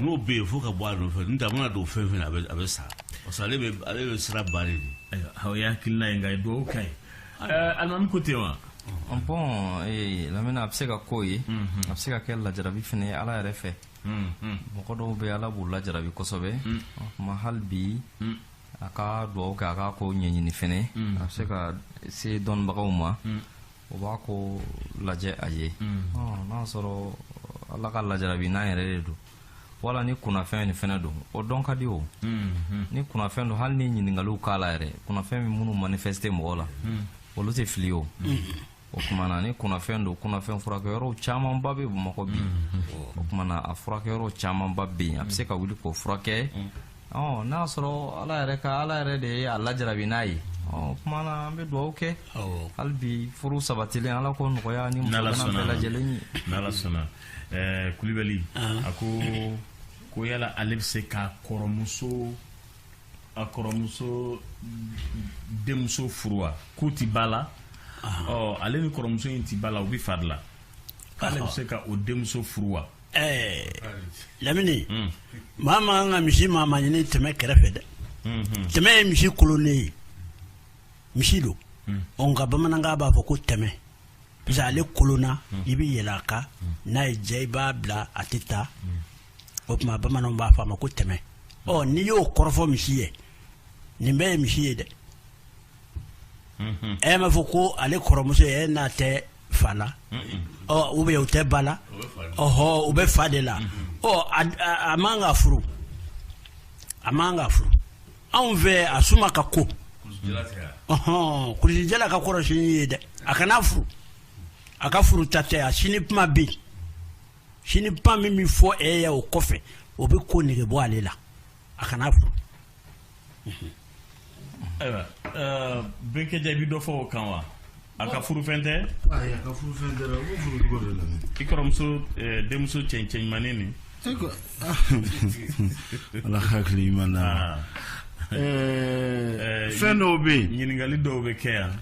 n'o bɛ yen fo ka bɔ a nɔfɛ n'o tɛ a mana don fɛn fɛn na a bɛ sa parce ale bɛ sira ba de o y'a hakilila ye nka ye dugawu k'a ye alimami ko ten wa bon eh, lamini a bɛ se ka k'o ye mhm. a bɛ se ka kɛ lajarabi fana ye ala yɛrɛ fɛ mhm. mɔgɔ dɔw bɛ ala b'u lajarabi kosɛbɛ mhm. mais hali bi a ka dugawu kɛ a k'a ko ɲɛɲini fana a bɛ se ka se dɔnnibagaw ma o b'a ko lajɛ a ye n'a sɔrɔ ala ka lajarabi n'a yɛrɛ de don wala ni kunnafɛn ni fɛnɛ don o dɔn ka di o ni kunnafɛn don hali ni ɲininkaliw k'a la yɛrɛ kunnafɛn min minnu manifeste mɔgɔ la olu tɛ fili o o kumana ni kunnafɛn don kunnafɛn furakɛyɔrɔw camanba bɛ bamakɔ bi o kumana a furakɛyɔrɔ camanba bɛ yen a bɛ se ka wuli k'o furakɛ ɔ n'a sɔrɔ ala yɛrɛ ka ala yɛrɛ de ye a lajarabi n'a ye o kuma na an bɛ dugawu kɛ hali bi furu sabatilen ala k'o nɔgɔya ni muso bɛɛ lajɛlen ye n'ala sɔnna ɛɛ kulibali a ko ko yala ale bɛ se ka kɔrɔmuso a kɔrɔmuso denmuso furu wa k'u ti ba la ɔ ale ni kɔrɔmuso in ti ba la u bɛ fa de la k'ale bɛ se ka o denmuso furu wa Ɛɛ lamini maa man kan ka misi maa ma ɲini tɛmɛ kɛrɛfɛ dɛ tɛmɛ ye misi kolonnen ye misi don nka bamanankan b'a fɔ ko tɛmɛ parce ale kolonna i bɛ yɛlɛ a kan n'a y'i diya i b'a bila a tɛ taa o tuma bamananw b'a fɔ a ma ko tɛmɛ ɔ n'i y'o kɔrɔ fɔ misi ye nin bɛɛ ye misi ye dɛ e m'a fɔ ko ale kɔrɔmuso e n'a tɛ fa la ou bien u tɛ ba la ɔɔ u bɛ fa de la a man ka furu a man ka furu anw fɛ a suma ka ko ɔɔn kulusijala ka kɔrɔ sini ye dɛ a kana furu a ka furuta tɛ a sini kuma bɛ sini kuma min bɛ fɔ e ye o kɔfɛ o bɛ ko nege bɔ ale la a kana furu ayiwa bɛnkɛ jaa i bɛ dɔ fɔ o kan wa a ka furufɛn tɛ ayi a ka furufɛn tɛ dɛ k'o furu cogo di la i kɔrɔmuso denmuso cɛncɛn ɲumanin nin ala hakili ɲuman na fɛn dɔw bɛ yen ɲininkali dɔw bɛ kɛ yan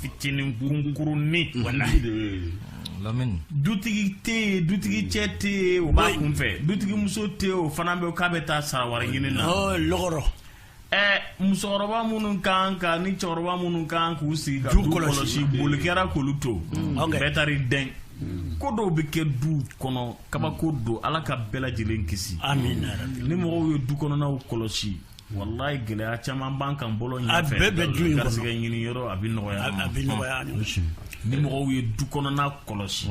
fitinin kunkurunin mm-hmm. wala mm-hmm. dutigi tɛ yen dutigi cɛ tɛ yen o b'a kunfɛ dutigi muso tɛ yen o fana bɛ k'a bɛ taa sara wɛrɛ ɲini na oh, lɔgɔrɔ ɛɛ musokɔrɔba minnu kan ka ni cɛkɔrɔba minnu kan k'u sigi ka du kɔlɔsi boli kɛra k'olu to mm. bɛɛ taara i dɛn ko dɔw bɛ kɛ du kɔnɔ kabako don ala ka bɛɛ lajɛlen kisi ni mɔgɔw ye du kɔnɔnaw kɔlɔsi Walayi gɛlɛya caman b'an kan bolo ɲɛfɛ, a bɛɛ bɛ du in kɔnɔ, garisɛgɛ ɲini yɔrɔ a bɛ nɔgɔya an ma, a bɛ nɔgɔya an ma, ni mɔgɔw ye du kɔnɔna kɔlɔsi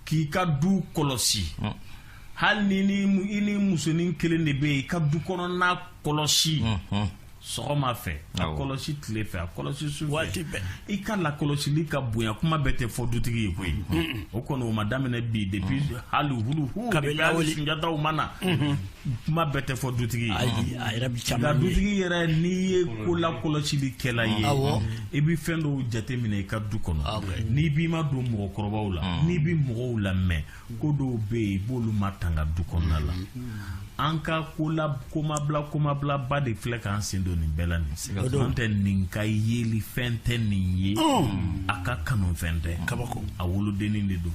k'i ka du kɔlɔsi hali ni i ni musonin kelen de bɛ yen i ka du kɔnɔna kɔlɔsi sɔgɔma fɛ a kɔlɔsi tile fɛ a kɔlɔsi su fɛ i ka lakɔlɔsili ka bonya kuma bɛɛ tɛ fɔ dutigi ye koyi o kɔni o ma daminɛ bi depuis hali hulu huu kabini hali sunjataw ma na. kuma bɛɛ tɛ fɔ dutigi ye nka dutigi yɛrɛ n'i ye ko lakɔlɔsili kɛla ye i bɛ fɛn dɔw jateminɛ i ka du kɔnɔ n'i b'i madon mɔgɔkɔrɔbaw la n'i bɛ mɔgɔw lamɛn ko dɔw bɛ yen i b'olu matanga du kɔnɔna la an ka kola komabila komabilaba de filɛ k'an sen don nin bɛɛ la nin n'o tɛ nin ka yeli fɛn tɛ nin ye a ka kanufɛn tɛ kabako a wolodennin de don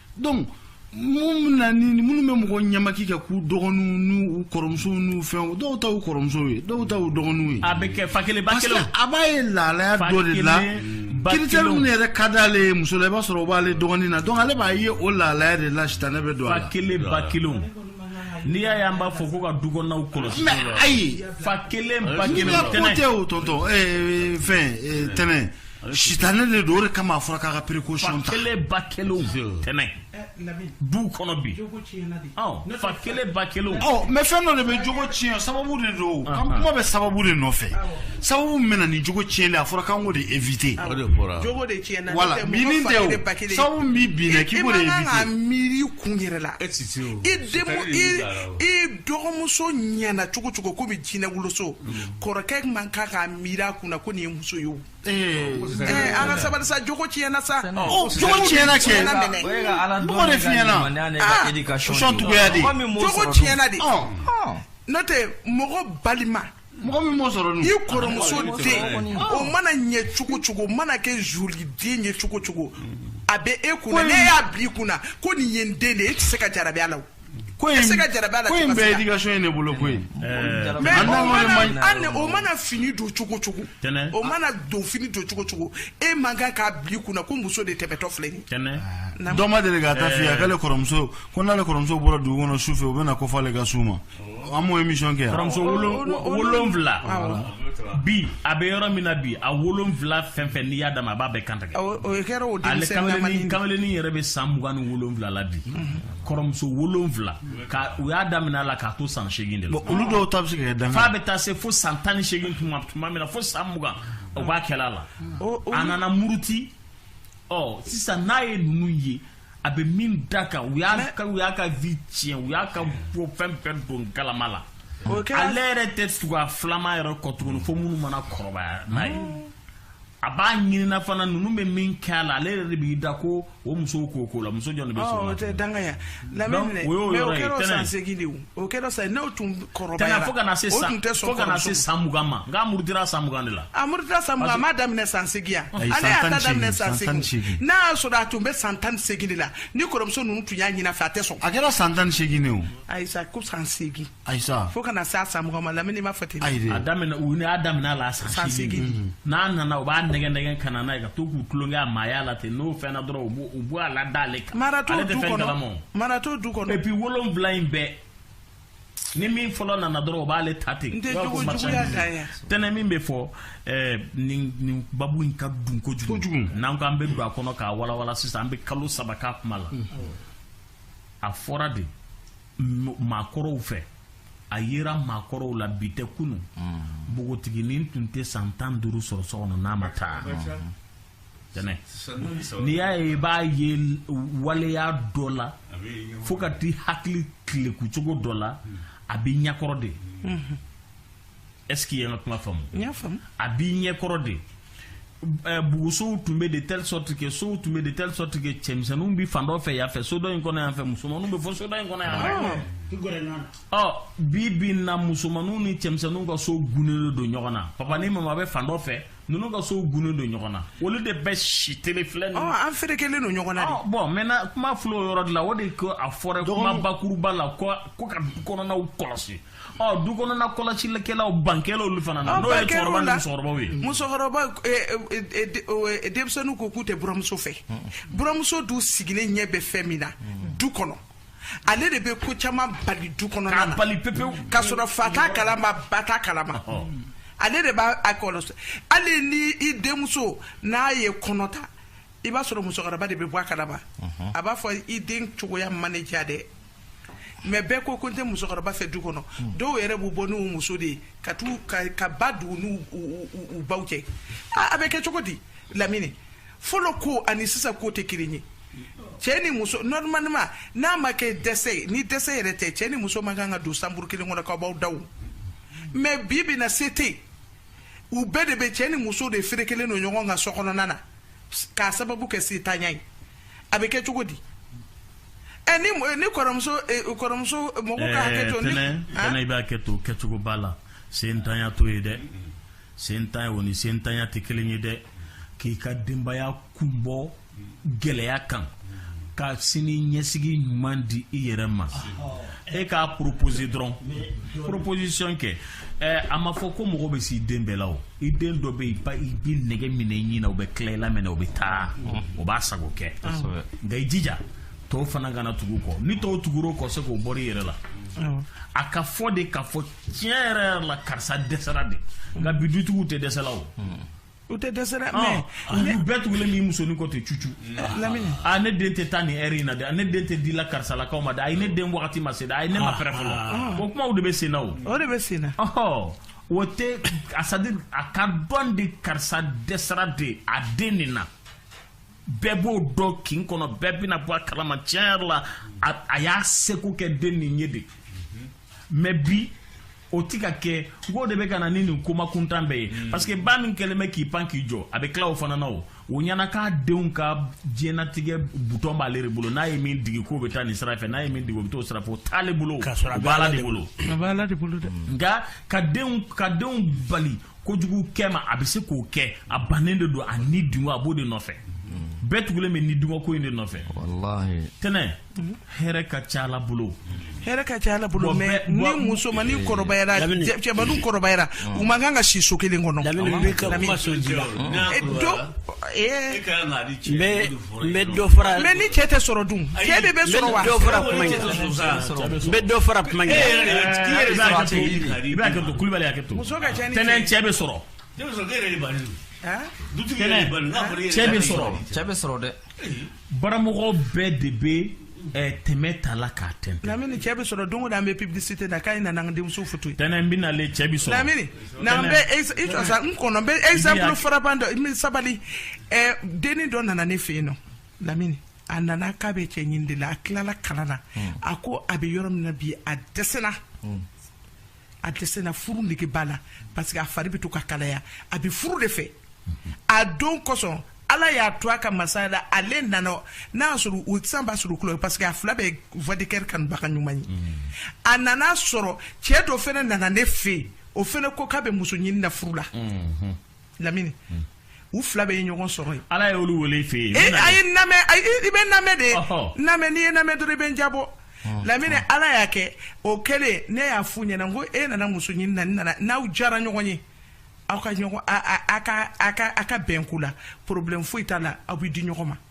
donc minnu na ni minnu bɛ mɔgɔ ɲamaki kɛ k'u dɔgɔninw n'u kɔrɔmusow n'u fɛnw dɔw ta u kɔrɔmusow ye dɔw ta u dɔgɔninw ye. a bɛ kɛ fa kelen ba kelen. parce que a b'a ye lahalaya dɔ de la critère minnu yɛrɛ ka d'ale ye muso la i b'a sɔrɔ o b'ale dɔgɔnin na donc ale b'a ye o lahalaya de la sitanɛ bɛ don a la. fa kelen ba kelenw. n'i y'a ye an b'a fɔ ko ka du kɔnɔnaw kɔlɔsi. mais ayi fa kelen ba kelen tɛnɛ. ko tɛ o tɔntɔn ɛɛ fɛn tɛnɛ. sitanɛ de don o de kama a fɔra k'a ka précaution ta fa kelen ba kelen tɛnɛ du kɔnɔ bi fa kelen ba kelen mais fɛn dɔ de bɛ jogo tiɲɛ sababu de don kuma bɛ sababu de nɔfɛ sababu min bɛ na ni jogo tiɲɛli a fɔra k'an k'o de éviter sababu bɛ bin k'i miiri kun yɛrɛ la e e dɔgɔmuso ɲɛna cogo cogo komi jinɛ woloso kɔrɔkɛ man kan k'a miiri a kunna ko nin ye muso ye Ee an ka sabali sa jogo tiɲɛna sa jogo tiɲɛna kɛ mɔgɔ de fiɲɛna cogoya de jogo tiɲɛna de n'o tɛ mɔgɔ balima mɔgɔ min b'o sɔrɔ i kɔrɔmuso den o mana ɲɛ cogo cogo mana kɛ joli den ye cogo cogo a bɛ e kun na e y'a bila i kun na ko nin ye n den de e tɛ se ka jarabi a la ko in se ka jarabi a la ko in bɛɛ éducation ye ne bolo koyi mais o mana an o mana fini don cogo cogo o mana don fini don cogo cogo e man kan k'a bila i kunna ko muso de tɛmɛtɔ filɛ nin ye dɔ ma deli k'a ta f'i ye k'ale kɔrɔmuso ko n'ale kɔrɔmuso bɔra dugu kɔnɔ su fɛ u bɛna ko fɔ ale ka su ma an m'o émission kɛ yan kɔrɔmuso wolonwula bi a bɛ yɔrɔ min na bi a wolonwula fɛn fɛn n'i y'a d'a ma a b'a bɛɛ kan tigɛ o kɛra o denmisɛnnin ale kameleni yɛrɛ bɛ san mugan ni wolonwula la bi kɔrɔmuso wolonwula ka u y'a daminɛ a la k'a to san seegin de la olu dɔw ta bɛ se ka kɛ f'a bɛ taa se fo san tan ni seegin tuma tuma min na fo san mugan o b'a kɛla a la a nana muruti ɔ sisan n'a ye ninnu ye a bɛ min da kan u y'a u y'a ka vie tiɲɛ u y'a ka bɔ fɛn fɛn don galama la ale yɛrɛ tɛ tugu a filama yɛrɛ kɔ tuguni fo minnu mana kɔrɔbaya n'a ye a b'a ɲinina fana ninnu bɛ min kɛ a la ale yɛrɛ de b'i da ko o musow k'o ko la muso jɔn de bɛ sɔn o tɛ dangaya lamini mais o kɛra san segin de o kɛra san n'o tun kɔrɔbayara fo ka na se san fo ka na se san mugan ma nka a murutira san mugan de la a murutira san mugan a m'a daminɛ san segin yan ale y'a ta daminɛ san segin n'a y'a sɔrɔ a tun bɛ san tan ni segin de la ni kɔrɔmuso ninnu tun y'a ɲin'a fɛ a tɛ sɔn a kɛra san tan ni segin de o ayisa ko san segin ayisa fo ka na se a san mugan ma lamini m'a fɔ ten ayi a daminɛ u y'a daminɛ a la san seegin mhm. n'a nana u b'a nɛgɛn nɛgɛn ka na n'a ye ka to k'u tulonkɛ a maaya la ten n'o fɛnna dɔrɔn u b'o u b'o a la da ale kan mara t'o du kɔnɔ mara t'o du kɔnɔ et puis wolonwula in bɛɛ ni min fɔlɔ nana dɔrɔn o b'ale ta ten tɛnɛ min bɛ fɔ eh, nin baabu in ka dun kojugu n'an ko an bɛ don a kɔnɔ k'a walawala sisan an bɛ kalo saba k'a kuma la mhm. a fɔra de maakɔrɔw fɛ a yera maakɔrɔw la bi tɛ kunun mm. npogotiginin tun tɛ san tan duuru sɔrɔ so kɔnɔ n'a ma taa mm-hmm. n'i y'a ye i b'a ye waleya dɔ la fo ka t'i hakili tileku cogo dɔ la mm. a b'i ɲɛkɔrɔ de mm-hmm. est-ce que i ye n ka kuma faamu n y'a faamu a b'i ɲɛkɔrɔ de eh, bugusow tun bɛ de telle sorte que sow tun bɛ de telle sorte que cɛmisɛnninw bɛ fan dɔ fɛ yan fɛ so dɔ in kɔnɔ yan fɛ musomanninw bɛ fɔ so dɔ in kɔnɔ yan fɛ ɔ bi bi na musomanninw ni cɛmisɛnninw ka so gunnen don ɲɔgɔn na papa ni mama bɛ fan dɔ fɛ ninnu ka sow gunnen don ɲɔgɔn na olu de bɛ si tele filɛ nin an ferekelen don ɲɔgɔn na de bon maintenant kuma filɛ o yɔrɔ de la o de ko a fɔra kuma bakuruba la ko ka du kɔnɔnaw kɔlɔsi ɔ du kɔnɔna kɔlɔsilikɛlaw ban kɛra olu fana na n'o ye cɛkɔrɔba ni musokɔrɔbaw ye musokɔrɔba denmisɛnninw ko k'u tɛ buramuso fɛ buramuso dun sigilen ɲɛ bɛ fɛn min na du kɔnɔ ale de bɛ ko caman bali du kɔnɔna na k'a bali pepewu k'a sɔrɔ fa t'a kalama ba t'a kalama ale de b'a a kɔlɔsi hali ni i denmuso n'a ye kɔnɔ ta i b'a sɔrɔ musokɔrɔba de bɛ bɔ a kalama a b'a fɔ i den cogoya ma ne diya dɛ mais bɛɛ ko ko n tɛ musokɔrɔba fɛ du kɔnɔ dɔw yɛrɛ b'u bɔ n'u muso de ye ka taa ka ba don u n'u baw cɛ a bɛ kɛ cogo di lamini fɔlɔ ko ani sisan ko tɛ kelen ye cɛ ni muso normalement n'a ma kɛ dɛsɛ ye ni dɛsɛ yɛrɛ tɛ cɛ ni muso man kan ka don chambre kelen kɔnɔ k'aw b'aw da mais bi bi na se tɛ u bɛɛ de bɛ cɛ ni muso de ferekelen don ɲɔgɔn ka so kɔnɔna na k'a sababu kɛ setanya ye a bɛ kɛ cogo di ɛ ni mɔ- ni kɔrɔmuso eh, kɔrɔmuso mɔgɔ ka hakɛ to ni tɛnɛ Ah? tɛnɛ i b'a kɛ to kɛcogo b'a la sentanya to ye dɛ sentanya o ni sentanya tɛ kelen ye dɛ k'i ka denbaya kunbɔ gɛlɛya kan ka sini ɲɛsigi ɲuman di i yɛrɛ ma e k'a proposer dɔrɔn proposition kɛ ɛɛ a ma fɔ ko mɔgɔ bɛ s'i den bɛɛ la o i den dɔ bɛ yen ba i bɛ nɛgɛ minɛ i ɲin na o bɛ tila i la minɛ o bɛ taa o b'a sago kɛ nka i jija tɔw fana kana tugu kɔ ni tɔw tugur'o kɔ se k'o bɔr'i yɛrɛ la a ka fɔ de k'a fɔ tiɲɛ yɛrɛ yɛrɛ la karisa dɛsɛra de nka bi dutigiw tɛ dɛsɛla o u tɛ dɛsɛ dɛ mais olu bɛɛ tugulen b'i musonin kɔ ten cucu lamini a ne den tɛ taa nin heure in na dɛ ne den tɛ di la karisalakaw ma dɛ ayi ne den wagati ma se dɛ ayi ne ma prêt fɔlɔ o kumaw de bɛ sen na o o de bɛ sen na ɔhɔ o tɛ c'est-à-dire a ka dɔn de karisa dɛsɛra de a den nin na bɛɛ b'o dɔn kin kɔnɔ bɛɛ bɛna bɔ a kalama tiɲɛ yɛrɛ la a y'a seko kɛ den nin ye de mais bi o ti ka kɛ k'o de bɛ ka na ni nin kuma kuntan bɛɛ ye hmm. parce que ba min kɛlen bɛ k'i pan k'i jɔ a bɛ tila o fana na o o ɲɛna k'a denw ka diɲɛnatigɛ butɔn b'ale de bolo n'a ye min digi k'o bɛ taa nin sira fɛ n'a ye min digi o bɛ t'o sira fɛ o t'ale bolo o bɛ ala de bolo a bɛ ala de bolo dɛ hmm. nka ka denw ka denw bali kojugu kɛ ma a bɛ se k'o kɛ a bannen de don a ni dungo a b'o de nɔfɛ hmm. bɛɛ tugulen bɛ ni dungo ko in de nɔfɛ tɛnɛ hɛrɛ ka ca ala bolo hɛrɛ ka ca ala bolo mais ni musomani kɔrɔbayara cɛbadu kɔrɔbayara u man kan ka si so kelen kɔnɔ mais ni cɛ tɛ sɔrɔ dun cɛ de bɛ sɔrɔ wa dɔ fara kuma tɛnɛ cɛ bɛ sɔrɔ cɛ bɛ sɔrɔ dɛ baramɔgɔ bɛɛ de bɛ eh, tɛmɛ ta la k'a tɛntɛn lamini cɛ bɛ sɔrɔ don o don an bɛ publicité na k'a ye na n'an denmuso foto ye tɛnɛ n bɛ nale cɛ bɛ sɔrɔ lamini na an bɛ ex- i jɔ sa n kɔnɔ n bɛ exemple frappant dɔ n bɛ sabali eh, denni dɔ nana ne fɛ yen nɔ lamini a nana k'a bɛ cɛ ɲini de la a tilala kalan na a ko a bɛ yɔrɔ min na bi a dɛsɛra a dɛsɛla furu nege b'a la parce que a fari bɛ to ka kalaya a bɛ furu de fɛ a don kosɔn ala y'a to a ka masaya la ale nana n'a y'a sɔrɔ o sisan b'a sɔrɔ kulo parce que a fila bɛɛ voix de cœur kanubaga ɲuman ye a nana sɔrɔ cɛ dɔ fɛnɛ nana ne fɛ yen o fɛnɛ ko k'a bɛ muso ɲini na furu la lamini u fila bɛɛ ye ɲɔgɔn sɔrɔ yen ala y'olu wele i fɛ yen e a ye n lamɛn i bɛ n lamɛn de n lamɛn n'i ye n lamɛn dɔrɔn i bɛ n jabɔ lamini ala y'a kɛ o kɛlen ne y'a f'u ɲɛna n ko e nana muso ɲini na nana n'aw diyara ɲɔgɔn ye aw ka ɲɔgɔn a ka bɛn ko la problème foyi t'a la aw bɛ di ɲɔgɔn ma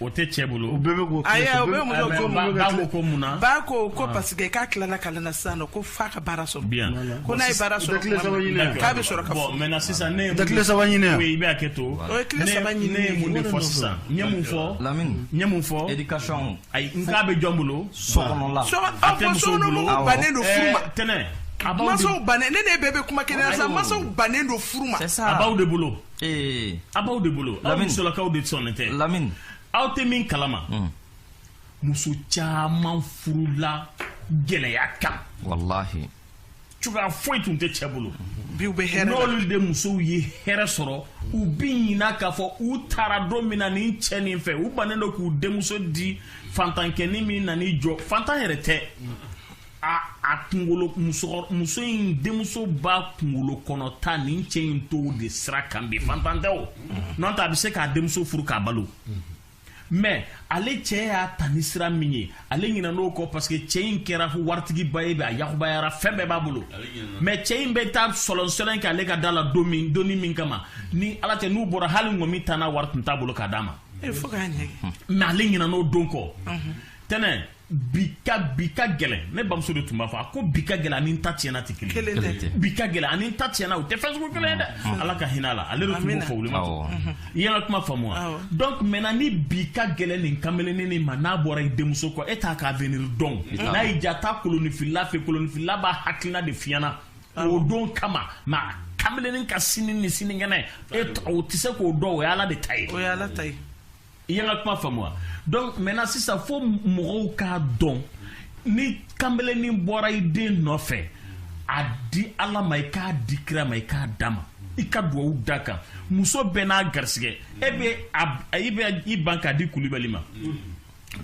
O tɛ cɛ bolo o bɛɛ bɛ ayi o bɛ muso ko mun ko mun na ba ko ko ah. parce que k'a tilala kalan na sisan non ko f'a ka baara sɔrɔ bien ko n'a ye baara sɔrɔ k'a bɛ sɔrɔ ka fɔ maintenant sisan ne ye tile saba ɲini i bɛ hakɛ to o ye tile saba ɲini ne ye mun de fɔ sisan n ye mun fɔ lamini n ye mun fɔ éducation ayi n k'a bɛ jɔn bolo sokɔnɔla a tɛ muso bolo bannen don furu ma tɛnɛ masaw bannen ne ne bɛɛ bɛ kuma kelen na sisan masaw bannen don furu ma a b'aw de bolo ee a b'aw de bolo aw Lamini. musolakaw de sɔnnen tɛ lamini aw tɛ min kalama muso caman furula gɛlɛya kan walahi cogoya foyi tun tɛ cɛ bolo bi u bɛ hɛrɛ la n'olu denmusow ye hɛrɛ sɔrɔ u bi ɲina k'a fɔ u taara don min na nin cɛ nin fɛ u bannen don k'u denmuso di fantankɛnin min na n'i jɔ fantan yɛrɛ tɛ a a kunkolo musokɔrɔ muso in denmuso b'a kunkolo kɔnɔ ta nin cɛ in t'o de sira kan bi fantan tɛ o n'o tɛ a bɛ se k'a denmuso furu k'a balo mais ale cɛ y'a ta ni sira min ye ale ɲinɛna o kɔ parce que cɛ in kɛra waritigiba ye bi a yakubayara fɛn bɛɛ b'a bolo mais cɛ in bɛ taa sɔlɔnsɔlɔn kɛ ale ka da la don min donni min kama ni ala tɛ n'u bɔra hali ŋɔmi tanna wari tun t'a bolo k'a d'a ma e fo k'a ɲɛgɛn mais ale ɲinɛna o don kɔ tɛnɛ bi ka bi ka gɛlɛn ne bamuso de tun b'a fɔ a ko bi ka gɛlɛn ani n ta tiɲɛna tɛ kelen Kelen tɛ. Kelen tɛ. bi ka gɛlɛn ani n ta tiɲɛna u tɛ fɛn sugu kelen ye dɛ ala ka hinɛ a la ale de tun b'o Amina. fɔ wuli ma Awɔ. i y'an ka kuma faamu wa Awɔ. donc maintenant ni bi ka gɛlɛn nin kamalennin nin ma n'a bɔra i denmuso kɔ e t'a ka avenir dɔn t'a n'a y'i ja taa kolonifilila fɛ kolonifilila b'a hakilina de f'i ɲɛna o don kama mais a kamalennin ka sini ni sinikɛnɛ e t- o tɛ se k'o dɔn o ye ala de ta ye o ye ala ta ye i y'an ka kuma faamu wa donc maintenant sisan fo mɔgɔw k'a dɔn ni kanbelenin bɔra i den nɔfɛ a di ala ma i k'a di kira ma i k'a d'a ma i ka duwawu d'a kan muso bɛɛ n'a garisigɛ e bɛ a i bɛ i ban k'a di kulibali ma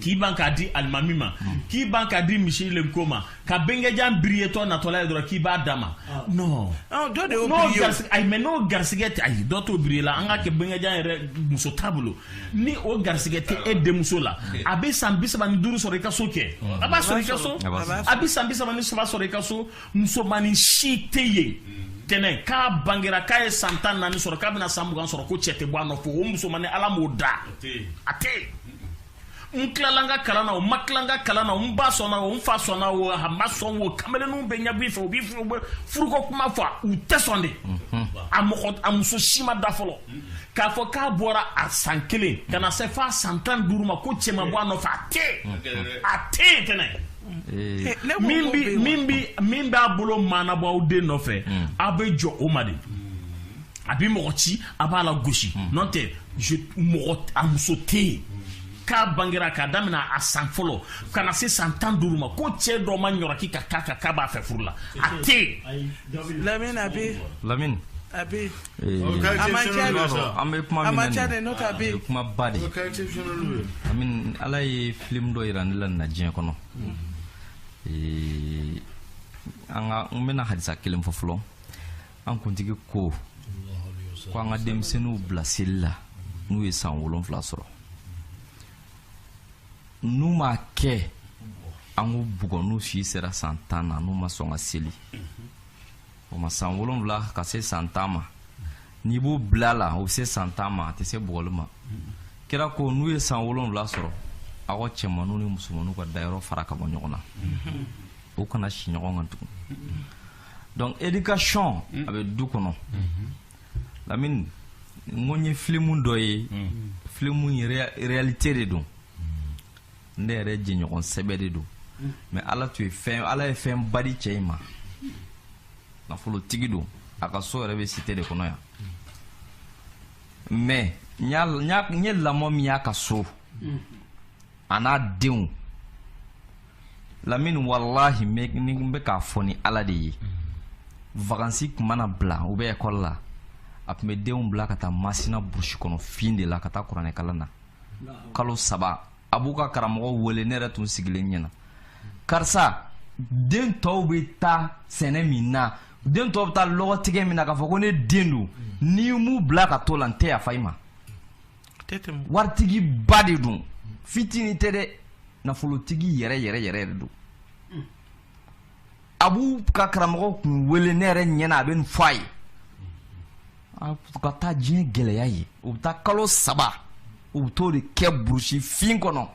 k'i ban k'a di alimami ma k'i ban k'a di misilenko ma ka bengejan biriyetɔ natɔla ye dɔrɔn k'i b'a d'a ma ah. non dɔ de y'o biriye ayi mais n'o garisigɛ tɛ ayi dɔ t'o biriye la an ka kɛ bengejan yɛrɛ muso t'a bolo ni o garisigɛ tɛ e denmuso la a bɛ san bi saba ni duuru sɔrɔ i ka so kɛ a b'a sɔrɔ i ka so a bɛ san bi saba ni saba sɔrɔ i ka so musomanin si tɛ yen tɛnɛ k'a bangera k'a ye san tan naani sɔrɔ k'a bɛna san mugan sɔrɔ ko cɛ tɛ bɔ a nɔfɛ o musomanin ala m'o da a tɛ yen n tilala n ka kalan na o n ma tila n ka kalan na n ba sɔnna o n fa sɔnna o a ma sɔn o kamalenninw bɛ ɲɛ b'i fɛ u bɛ furuko kuma fɔ u tɛ sɔn de a mɔgɔ a muso si ma da fɔlɔ k'a fɔ k'a bɔra a san kelen ka na se f'a san tan ni duuru ma ko cɛ ma bɔ a nɔfɛ a tɛ yen a tɛ yen tɛnɛ eh. eh, min bi min bi min b'a bolo mana bɔ aw den nɔfɛ hmm. aw bɛ jɔ o ma de. a bɛ mɔgɔ ci a b'a lagosi hmm. n'o tɛ mɔgɔ a muso tɛ yen k'a bangera k'a daminɛ a san fɔlɔ ka na se san tan duuru ma ko cɛ dɔ ma ɲɔrɔki ka k'a kan k'a b'a fɛ furu la a tɛ yen. lamini a bɛ. lamini. a bɛ. a ma ca de. an bɛ kuma min na nin ye a man ca dɛ n'o tɛ a bɛ. a ye kuma ba de ye. lamini ala ye filimu dɔ yira ne la nin na diɲɛ kɔnɔ. Hmm. an ka n bɛna hadisa kelen fɔ fɔlɔ. an kuntigi ko ko an ka denmisɛnninw bila seli la n'u ye san wolonfila sɔrɔ n'u m'a kɛ an k'u bugɔ n'u si sera san tan na n'u ma sɔn ka seli o ma san wolonfila ka se san tan ma n'i b'u bila la o bɛ se san tan ma a tɛ se bugɔli ma kira ko n'u ye san wolonfila sɔrɔ aw ka cɛmanninw ni musomanninw ka dayɔrɔ fara ka bɔ ɲɔgɔn na u kana si ɲɔgɔn kan tugun donc éducation a bɛ du kɔnɔ lamini n ko n ye filimu dɔ ye filimu in réalité de don ne yɛrɛ jɛɲɔgɔn sɛbɛ de don mais ala tun ye fɛn ala ye fɛn ba di cɛ in ma nafolotigi don a ka so yɛrɛ bɛ cité de kɔnɔ yan mais n ye lamɔ min y'a ka so a n'a denw lamini walahi n bɛ k'a fɔ ni ala de ye vakansi tun mana bila u bɛ ekɔli la a tun bɛ denw bila ka taa masina burusi kɔnɔ fin de la ka taa kuranɛkalan na kalo saba a b'u ka karamɔgɔ wele ne yɛrɛ tun sigilen ɲɛna karisa den tɔw bɛ taa sɛnɛ min na den tɔw bɛ taa lɔgɔtigɛ min na k'a fɔ ko ne den don n'i m'u bila ka to la n tɛ yafa i ma waritigi ba de don fitinin tɛ dɛ nafolotigi yɛrɛ yɛrɛ yɛrɛ de don a b'u ka karamɔgɔ kun wele ne yɛrɛ ɲɛna a bɛ nin fɔ a ye a ka taa diɲɛ gɛlɛya ye u bɛ taa kalo saba u bɛ t'o de kɛ burusi fin kɔnɔ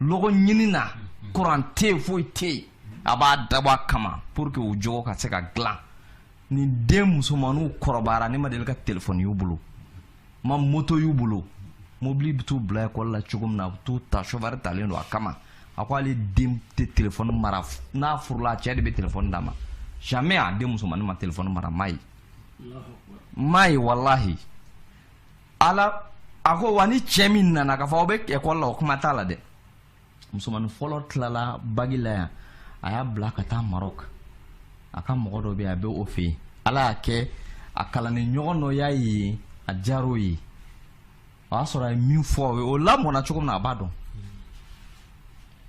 lɔgɔ ɲini na kuran tɛ yen foyi tɛ yen a b'a dabɔ a kama pour que u jogo ka se ka dilan nin den musomanninw kɔrɔbayara ne ma deli ka telefɔni y'u bolo ma moto y'u bolo mobili bɛ t'u bila ekɔli la cogo min na a bɛ t'u ta sofɛri talen don a kama a ko ale den tɛ telefɔni mara n'a furula a cɛ de bɛ telefɔni d'a ma jamais a den musomannin ma telefɔni mara n m'a ye n m'a ye walahi ala a ko wa ni cɛ min nana k'a fɔ aw bɛ ekɔli la o kuma t'a la dɛ musomannin fɔlɔ tilala baki la yan a y'a bila ka taa marɔk a ka mɔgɔ dɔ bɛ yen a bɛ o fɛ yen ala y'a kɛ a kalanden ɲɔgɔn dɔ y'a ye a diyara o ye o y'a sɔrɔ a ye min fɔ o ye o lamɔna cogo min na a b'a dɔn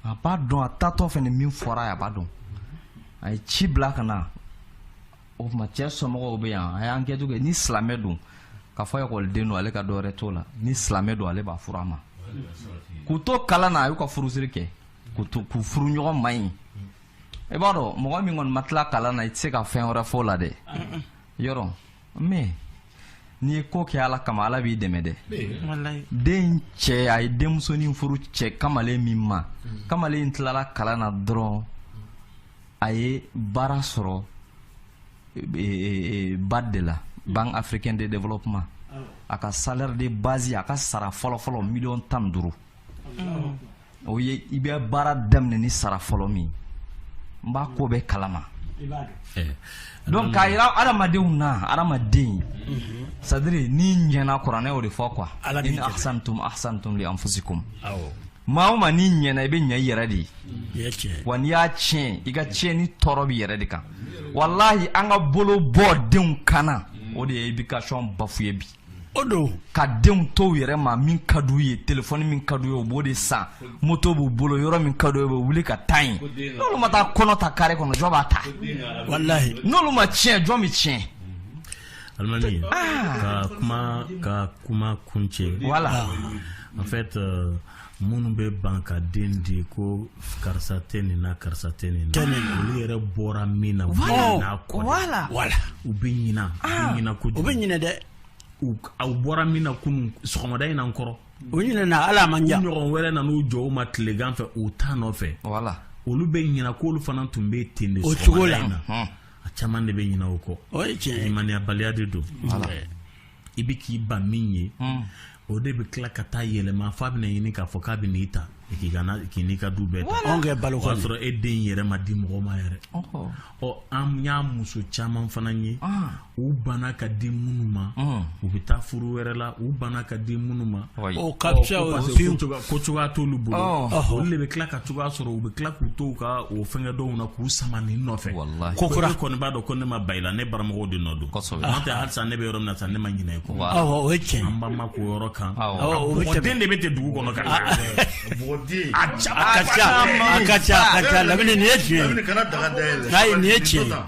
a b'a dɔn a taatɔ fɛn min fɔra a b'a dɔn a ye ci bila ka na o tuma cɛ somɔgɔw bɛ yan a y'an kɛcogo ni silamɛ don k'a fɔ ekɔliden don ale ka dɔ wɛrɛ t'o la ni silamɛ don ale b'a furu a ma k'u to kalan na a y'u ka furusiri kɛ k'u to k'u furu ɲɔgɔn ma ɲi i b'a dɔn mɔgɔ min kɔni ma tila kalan na i tɛ se ka fɛn wɛrɛ fɔ o la dɛ yɔrɔ mais n'i ye ko kɛ ala kama ala b'i dɛmɛ dɛ den cɛ a ye denmusonin furu cɛ kamalen min ma kamalen tilala kalan na dɔrɔn a ye baara sɔrɔ e, e, e, BAD de la mm. banque africaine de développement ah. a ka salaire de base a ka sara fɔlɔfɔlɔ miliyɔn tan duuru mm. o ye i bɛ baara daminɛ ni sara fɔlɔ min n b'a ko bɛɛ kalama eh. donc k'a yira adamadenw na adamaden mm-hmm. c'est-à-dire n'i ɲɛna kuranɛ y'o de fɔ quoi in ahsantum ahsantum li anfusikum maa o maa n'i ɲɛna i bɛ ɲɛ i yɛrɛ de ye wa n'i y'a tiɲɛ i ka tiɲɛni tɔɔrɔ b'i yɛrɛ de kan walahi an ka bolo bɔ denw kan na o de ye éducation bafoué bi o don ka denw to u yɛrɛ ma min ka d'u ye telefɔni min ka d'u ye u b'o de san moto b'u bolo yɔrɔ min ka d'u ye u bɛ wuli ka taa yen n'olu ma taa kɔnɔ ta kare kɔnɔ jɔn b'a ta walahi n'olu ma tiɲɛ jɔn bɛ tiɲɛ alimami ah! ka kuma ka kuma kuncɛ voilà en fait euh, minnu bɛ ban ka den di ko karisa tɛ nin na karisa tɛ nin na olu yɛrɛ bɔra min na u bɛ ɲinɛ a kɔ dɛ u bɛ ɲinɛ u bɛ ah! ɲinɛ kojugu u bɛ ɲinɛ dɛ aw bɔra min na kunun sɔgɔmada in na n kɔrɔ u ɲinɛna ala man ja ɲɔgɔn wɛrɛ na n'u jɔ u ma tilegan fɛ u t'a nɔfɛ olu bɛ ɲinɛ k'olu fana tun bɛ ten de sɔgɔmada in na a caman de bɛ ɲinɛ o kɔ o ye tiɲɛ ye limaniyabaliya de don i bɛ k'i ban min ye hmm. o de bɛ tila ka taa yɛlɛma f'a bɛna ɲini k'a fɔ k'a bɛn'i ta k'i ka k'i n'i ka du bɛɛ ta anw kɛ balo kɔni o y'a sɔrɔ e den in yɛrɛ ma di mɔgɔ ma yɛrɛ ɔ an y'a muso caman fana ye ah. u banna ka di minnu ma ah. u bɛ taa furu wɛrɛ la u banna ka di minnu ma ko cogoya t'olu bolo olu de bɛ tila ka cogoya sɔrɔ u bɛ tila k'u to u ka o fɛnkɛ dɔw na k'u sama nin nɔfɛ ko kura kɔni b'a dɔn ko ne ma ban i la ne baramɔgɔw de nɔ don halisa ne bɛ yɔrɔ min na sisan ne ma ɲinɛ i kɔ o ye tiɲɛ an ba ma k'o yɔrɔ kan den de bɛ ten dugu kɔnɔ ka nin ye tiɲɛ nin ye tiɲɛ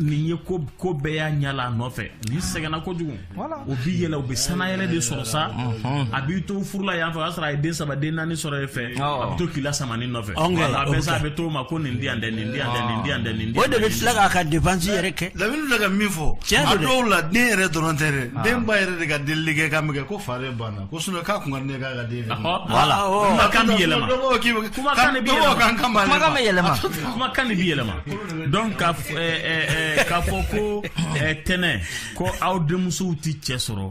n'i ye ko ko bɛɛ yaala a nɔfɛ n'i sɛgɛnna kojugu o b'i yɛlɛ u bɛ sanayɛlɛ de sɔrɔ sa a b'i to furu la yan fɛ o y'a sɔrɔ a ye den saba den naani sɔrɔ e fɛ a bɛ to k'i lasama nin nɔfɛ a bɛ sa a bɛ to o ma ko nin di yan dɛ nin di yan dɛ nin di yan dɛ nin di o de bɛ tila k'a ka dépense yɛrɛ kɛ lamini bɛ ka min fɔ a dɔw la den yɛrɛ dɔrɔn tɛ dɛ den ba yɛrɛ de ka delili kɛ k'a mɛn ko fa de banna ko sinon k'a kun ka di ne k'a ka den yɛrɛ voilà kumakan bɛ yɛlɛma kumakan bɛ yɛlɛma kumakan bɛ yɛlɛma kumakan de bɛ yɛlɛma donc k'a fɔ ko tɛnɛ ko aw denmusow tɛ cɛ sɔrɔ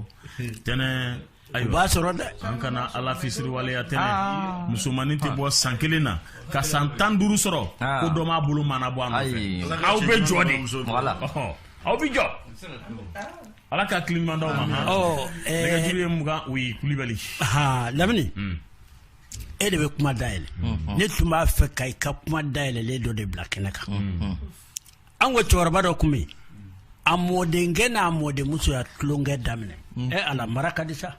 tɛnɛ ayi b'a sɔrɔ dɛ an kana ala fisiriwaleya tɛnɛ ah. musomannin tɛ bɔ san kelen na ka san tan duuru sɔrɔ ah. ko dɔ m'a bolo mɔɔnɔbɔ a nɔfɛ aw bɛ jɔ de aw bɛ jɔ ala ka hakili ɲuman d'aw ma nɛgɛjuru ye mugan o ye kulibali lamini hmm. e de bɛ kuma dayɛlɛ mm-hmm. ne tun b'a fɛ ka i ka kuma dayɛlɛlen dɔ de bila kɛnɛ kan mm-hmm. an ko cɛkɔrɔba dɔ tun bɛ yen a mɔdenkɛ n'a mɔdenmuso y'a tulonkɛ daminɛ mm. ɛ ala mara ka di sa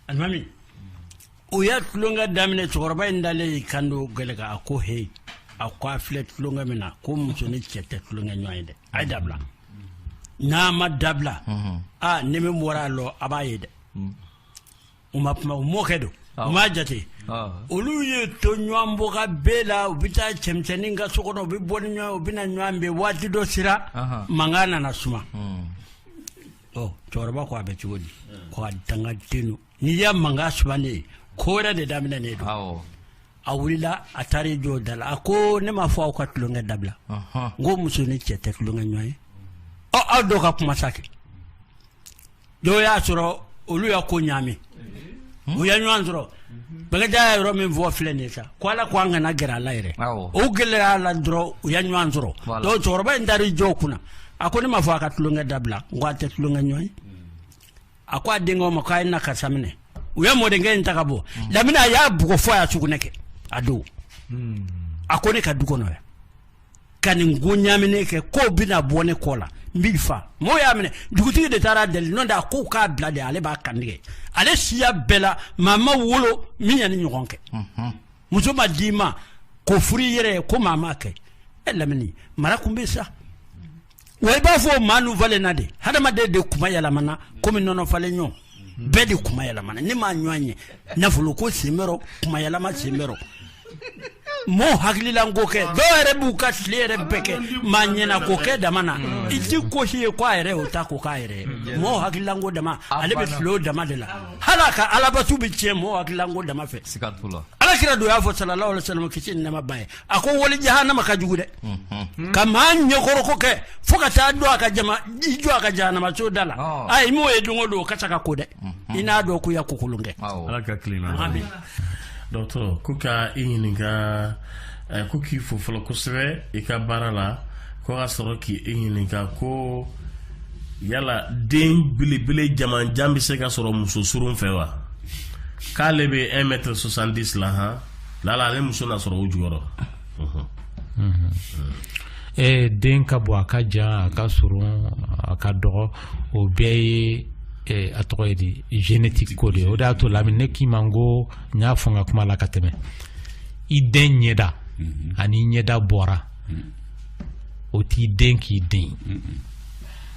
alimami u y'a tulonkɛ daminɛ cɛkɔrɔba in dalen y'i kan don gɛlɛ kan a ko heyi a ko a filɛ tulonkɛ min na ko muso ni cɛ tɛ tulonkɛ ɲɔgɔn ye dɛ a ye dabila n'a ma dabila mm-hmm. a ni min bɔra a rɔ a b'a ye dɛ mm. U ma kuma u mɔkɛ don u m'a jate olu ye to ɲɔgɔn bɔka bɛɛ la u bɛ taa cɛmisɛnnin ka so kɔnɔ u bɛ bɔ ni ɲɔgɔn u bɛ na ɲɔgɔn fɛ waati dɔ sera mankan nana suma ɔ cɛkɔrɔba ko a bɛ cogo di ko a dangaden don n'i y'a mankan sumanen ye ko wɛrɛ de daminɛnen don a wulila a taara i jɔ da la a ko ne m'a fɔ aw ka tulonkɛ dabila n ko muso ni cɛ tɛ tulonkɛ ɲɔgɔn ye ɔ aw dɔ ka kuma sa kɛ Dɔw y'a sɔrɔ olu y'a ko ɲaami u ye ɲɔgɔn sɔrɔ bakarijan y'a yɔrɔ min fɔ filɛ nin ye sa ko ala k ko an kana gɛrɛ a la yɛrɛ u gɛrɛlen a la dɔrɔn u ye ɲɔgɔn sɔrɔ cɛkɔrɔba in taara i jɔ u kunna a ko ne m'a fɔ a ka tulonkɛ dabila ko a tɛ tulonkɛ ɲɔgɔn ye a ko a denkɛw ma k'a ye na karisa minɛ u ye mɔdenkɛ in ta ka bɔ hmm. lamini a y'a bugɔ fo a y'a sugunɛ kɛ a don hmm. a ko ne ka du kɔnɔ yan ka nin ko ɲaaminen kɛ k'o bɛna bɔ ne kɔ la n b'i fa mɔgɔw y'a minɛ dugutigi de taara deli n'o tɛ a ko u k'a bila de ale b'a kan tigɛ ale siya bɛɛ la maa ma wolo min ye nin ɲɔgɔn kɛ mhm. muso ma d'i ma k'o furu i yɛrɛ ye ko maa m'a kɛ e lamini mara kun bɛ sa Wa i b'a fɔ o maa falenna de hadamaden de kuma yɛlɛmana kɔmi nɔnɔ falen ɲɔgɔn bɛɛ de kuma yɛlɛmana ne m'a ɲɔgɔn ye nafolo ko sen kuma yɛlɛma sen mɔgɔw hakililan ko kɛ dɔw yɛrɛ b'u ka tile yɛrɛ bɛɛ kɛ maa ɲɛna ko kɛ dama na i tɛ ko si ye ko a yɛrɛ o ta ko k'a yɛrɛ mɔgɔw hakililan ko dama ale bɛ tile o dama de la hali a ka alabatu bɛ tiɲɛ mɔgɔw hakililan ko dama fɛ ala kira don y'a fɔ salalahu alayi wasalama kisi ni nɛɛma b'a ye a ko wali jahanama ka jugu dɛ mhm. ka maa ɲɛkɔrɔko kɛ fo ka taa don a ka jama i jɔ a ka jahanama so da la oh. a i m'o ye don o don o ka ca ka ko dɛ mhm. i n'a dɔn k'o ye ko kolon kɛ ala ka tilema dɔgɔtɔrɔ ko ka i ɲininka eh, ko k'i fo fɔlɔ kosɛbɛ i ka baara la ko ka sɔrɔ k'i i ɲininka ko yala den belebele jamanjan bɛ se ka sɔrɔ muso surun fɛ wa k'ale bɛ 1 mètre 70 la han lala ale muso na sɔrɔ o jɔyɔrɔ ee den ka bon a ka jan a ka surun a ka dɔgɔ o bɛɛ ye eh, a tɔgɔ ye di génétique ko de ye o de y'a to lamini ne k'i ma n ko n y'a fɔ n ka kuma la ka tɛmɛ i den ɲɛda ani i ɲɛda bɔra o t'i den k'i den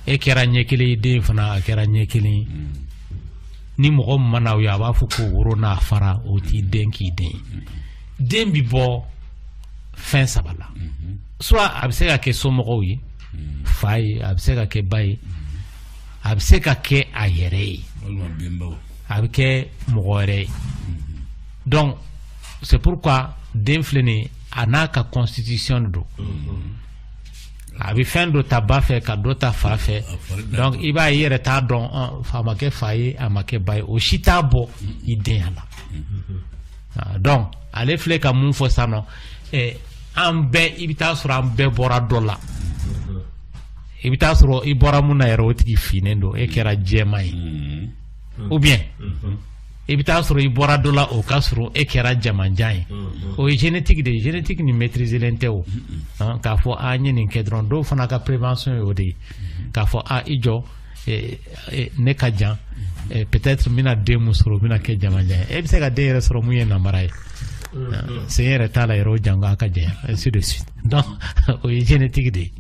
e kɛra ɲɛ kelen i den fana a kɛra ɲɛ kelen ye ni mɔgɔ mana aw ye a b'a fɔ ko woro n'a fara o t'i den k'i den den bɛ bɔ fɛn saba la soit a bɛ se ka kɛ somɔgɔw ye fa ye a bɛ se ka kɛ ba ye a bɛ se ka kɛ a yɛrɛ ye a bɛ kɛ mɔgɔ wɛrɛ ye donc c'est pourquoi den filɛ nin ye a n'a ka constitution de don. a bɛ fɛn dɔ ta ba fɛ ka dɔ ta fa fɛ donc i b'a ye i yɛrɛ t'a dɔn a ma kɛ fa ye a ma kɛ ba ye o si t'a bɔ i denya la ah, donc ale filɛ ka mun fɔ sisan nɔ eh, an bɛɛ i bɛ taa sɔrɔ an bɛɛ bɔra dɔ la i bɛ taa sɔrɔ i bɔra mun na yɛrɛ o tigi finnen don e kɛra jɛman ye mm-hmm. ou bien mm-hmm. i bɛ taa sɔrɔ i bɔra dɔ la o ka surun e kɛra jamanjan ye o ye génétique de ye génétique nin maîtriserlen tɛ o k'a fɔ a n ye nin kɛ dɔrɔn dɔw fana ka prévention ye o de ye k'a fɔ a i jɔ ne ka jan peut-être n bɛna den min sɔrɔ o bɛna kɛ jamanjan ye e bɛ se ka den yɛrɛ sɔrɔ mun ye namara ye sen yɛrɛ t'a la yɛrɛ o janko a ka janya ainsi de suite o ye génétique de ye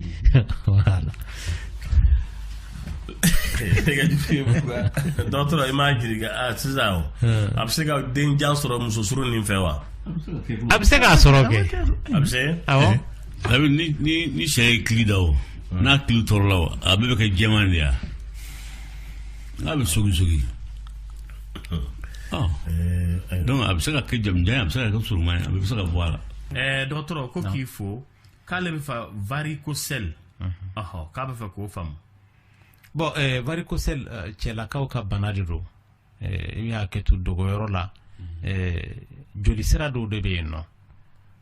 dɔgɔtɔrɔ i m'a ɲininka ah, sisan o hmm. a bɛ se ka den jan sɔrɔ muso surunnin fɛ wa a bɛ se k'a sɔrɔ kɛ a bɛ se awɔ eh, ni ni ni sɛ ye kili da o hmm. n'a kili tɔrɔla o a bɛɛ bɛ kɛ jɛman de ya n'a bɛ sogi sogi hmm. oh. eh, eh. donc a bɛ se ka kɛ jamanjan ye a bɛ se ka kɛ surunman ye a bɛ se ka bɔ a la dɔgɔtɔrɔ ko k'i fo k'ale bɛ fɛ varicocèle ɔhɔ k'a bɛ fɛ k'o faamu bon eh, varicocèle eh, cɛlakaw ka bana de don eh, i bɛ hakɛ to dogoyɔrɔ la eh, joli sira dɔw de bɛ yen nɔ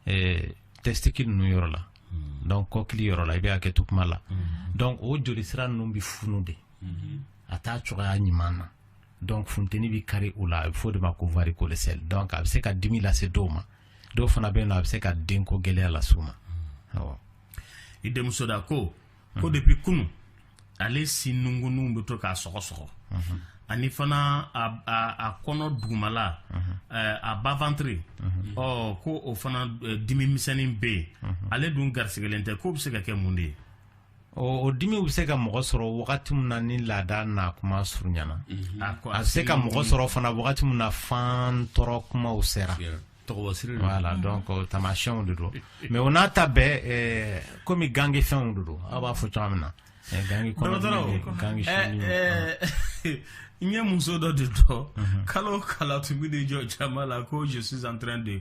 eh, testicule ninnu yɔrɔ la hmm. donc kɔkili yɔrɔ la i bɛ hakɛ to kuma la hmm. donc o joli sira ninnu bɛ funu de hmm. a t'a cogoya ɲuman na donc funteni bɛ kari o la a bɛ fɔ o de ma ko varicocèle donc a bɛ se ka dimi lase dɔw ma dɔw fana bɛ yen a bɛ se ka denko gɛlɛya lase u ma awɔ i denmuso da ko ko depuis kunun ale sin nunkun bɛ to k'a sɔgɔ sɔgɔ ani fana a kɔnɔ dugumala a bas-ventre ɔ ko o fana dimi misɛnnin bɛ yen ale dun garisigɛlen tɛ k'o bɛ se ka kɛ mun de ye o dimi bɛ se ka mɔgɔ sɔrɔ wagati min na ni laada na kuma surunyana mhm. a bɛ se ka mɔgɔ sɔrɔ fana wagati min na fan tɔrɔ kumaw sera voilà donc tamasiyɛnw de don mais o n'a ta bɛɛ eh, komi gange fɛnw de don aw b'a fɔ cogoya min na eh, gange kɔnɔ eh, n ye muso dɔ de dɔn mhm. kalo o kalo a tun bɛ t'i jɔ jama la ko je suis en train de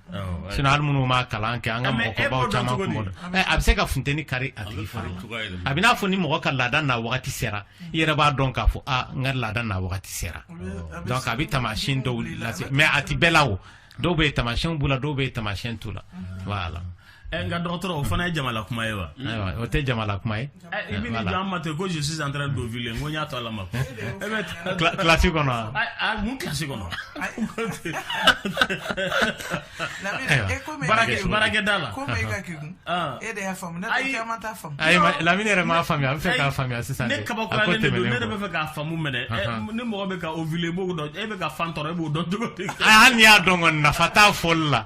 sinon hali minnu ma kalan kɛ an ka mɔgɔkɔrɔbaw caman kun b'o dɔn. Ɛ, a bɛ se ka funteni kari a tigi fari la a bɛ n'a fɔ ni mɔgɔ ka laada na wagati sera i yɛrɛ b'a dɔn k'a fɔ a n ka laada na wagati sera donc a bɛ taamasiyɛn dɔw lase mais a tɛ bɛɛ la o dɔw bɛ yen taamasiyɛnw b'u la dɔw bɛ yen taamasiyɛn t'u la voilà Ɛ nka dɔgɔtɔrɔ o fana ye jama la kuma ye wa o tɛ jama la kuma ye i bɛ jɔ an ma ten ko je suis en train d'ovuler ko n y'a to ala ma e kilasi kɔnɔ mun kilasi kɔnɔ baarakɛda la e de y'a faamu lamini yɛrɛ m'a faamuya a bɛ fɛ k'a faamuya sisan ne kabakoyalen de don ne de bɛ fɛ k'a faamu mais ni ni mɔgɔ bɛ ka ovuler e b'o dɔn e bɛ ka fan tɔrɔ e b'o dɔn cogo di hali n'i y'a dɔn nafa t'a fɔli la